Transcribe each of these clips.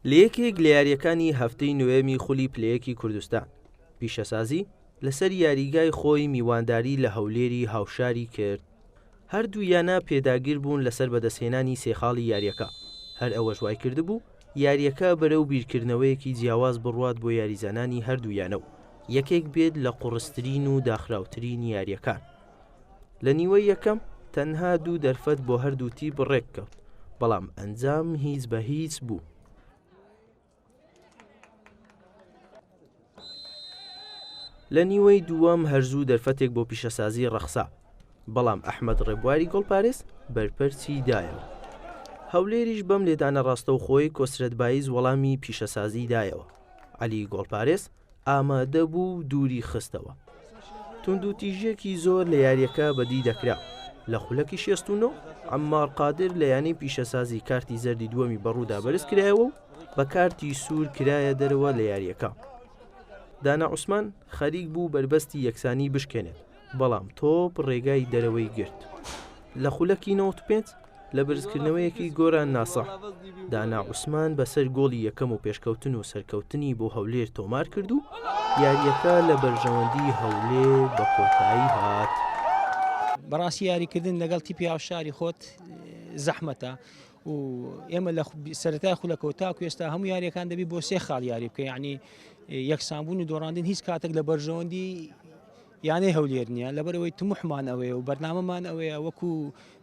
لە یەکێک لە یارییەکانی هەفتەی نۆیەمی خولی پلەیەکی کوردستان، پیشەسازی لەسەر یاریگای خۆی میوانداری لە هەولێری هاوشاری کرد، هەردوو یانە پێداگربوون لەسەر بەدەستهێنانی سێ خاڵی یارییەکە، هەر ئەوەش وایکردبوو یارییەکە بەرەو بیرکردنەوەیەکی جیاواز بڕوات بۆ یاریزانانی هەردوو یانە و یەکێک بێت لە قوڕسترین و داخراوترین یارییەکان. لە نیوەی یەکەم تەنها دوو دەرفەت بۆ هەردوو تیپ ڕێککەوت بەڵام ئەنجام هیچ بە هیچ بوو. لە نیوەی دووەم هەرزوو دەرفەتێک بۆ پیشەسازی ڕەخسا بەڵام ئەحمد ڕێبواری گۆڵپارێز بەرپەرچی دایەوە هەولێریش بەم لێدانە ڕاستەوخۆی کۆسرەت بایز وەڵامی پیشەسازی دایەوە علی گۆڵپارێز ئامادە بوو و دووری خستەوە. توندوتیژییەکی زۆر لە یارییەکە بەدی دەکرا. لە خولەکی شێست و نۆ، عەممار قادر لە یانەی پیشەسازی کارتی زەردی دووەمی بەڕوودا بەرز کرایەوە و بە کارتی سوور کرایە دەرەوە لە یارییەکە. دانا عوسمان خەریک بوو بەربەستی یەکسانی بشکێنێت. بەڵام تۆپ ڕێگای دەرەوەی گرت لە خولەکی 95 لە برزکردنەوەیەکی گۆران ناسە دانا عوسمان بەسەر گۆڵی یەکەم و پێشکەوتن و سەرکەوتنی بۆ هەولێر تۆمار کرد و یاریەکە لە بەرژەوەندی هەولێر بە کۆتایی هات. بەڕاستی یاریکردن لەگەڵ تیپی هاوشاری خۆت زەحمەتە و ئێمە لە سەرای خولەکەەوە تا کوێستا هەموو یاریەکان دەبی بۆ سێ خاڵ یاری بکە ینی یەکسانبوون و دۆڕاندن هیچ کاتێک لە بەرژەوەندی یانەی هەولێر نییە، لەبەرئەوەی تموحمان ئەوەیە و بەرنامەمان ئەوەیە وەکو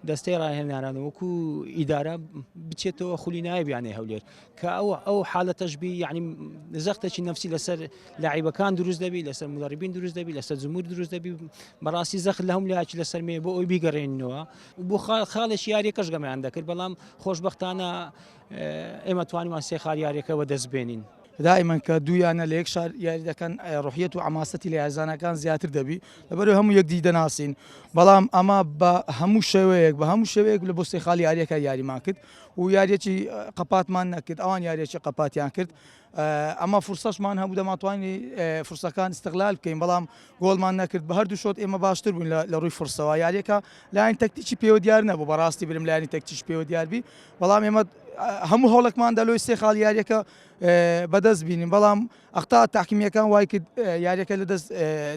دەستەی راهێنەران و وەکو ئیدارە بچێتەوە خولی نایب یانەی هەولێر کە ئەوە ئەو حالەتەش بی یعنی زەختێکی نفسی لەسەر لاعیبەکان دروست دەبی لەسەر مدربین دروست دەبی لەسەر جمهور دروست دەبی بەڕاستی زەخت لە هەم لایەکی لەسەر مێ بۆ ئەوی بیگەڕێنینەوە بۆ خاڵێکی یاریەکەش گەمیان دەکرد بەڵام خۆشببختانە ئێمە توانیمان سێ خالیارەکەەوە دەست بێنین دائیمەن کە دوو یانە لە یەک شار یاری دەکەن ڕوحیەت و عەماسەتی لە یاریزانەکان زیاتر دەبی لەبەرو هەموو یەکدی دەناسین بەڵام ئەمە بە هەموو شێوەیەک بە هەموو شێوەیەک لە بۆ سێخالی یاریەکە یاریمان کرد و یاریەکی قەپاتمان نەکرد ئەوان یاریەکی قەپاتیان کرد ئەمە فرسەشمان هەبوو دەماتوانی فرسەکان استغلال بکەین بەڵام گۆڵمان نەکرد بە هەردوو شۆت ئێمە باشتر بووین لە ڕووی فرسەوە یاریەکە لایەن تەکتیکی پێوە دیار نەبوو بەڕاستی برم لایانی تەکتیش پێوە دیاربی بەڵام ئێمە هەموو هەوڵێکمان دەلۆی سێ خاڵ یاریەکە بەدەست بینیم بەڵام ئەختا تاقیمیەکان وای کرد یاریەکە لە دەست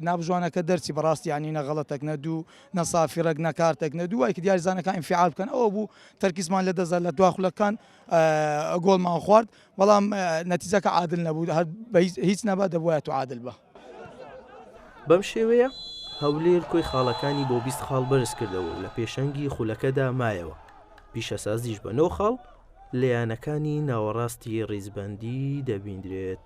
نابژوانەکە دەرچی بەڕاستی ینی نەغڵەتەک نە دوو نەسافی ڕێک نەکارتێک نە دوو وای کرد یاریزانەکان فعال بکەن ئەوە بوو تەرکیزمان لە دەزار لە دواخلەکان گۆڵمان خوارد بەڵام نەتیجەکە عادل نەبوو هەر هیچ نەبا دەبوایە تو عادل بە. بەم شێوەیە هەولێر کۆی خاڵەکانی بۆ بیست خاڵ بەرزکردەوە و لە پێشەنگی خولەکەدا مایەوە، پیشەسازیش بە نۆ خاڵ لە یانەکانی ناوەڕاستی ریزبەندی دەبینرێت.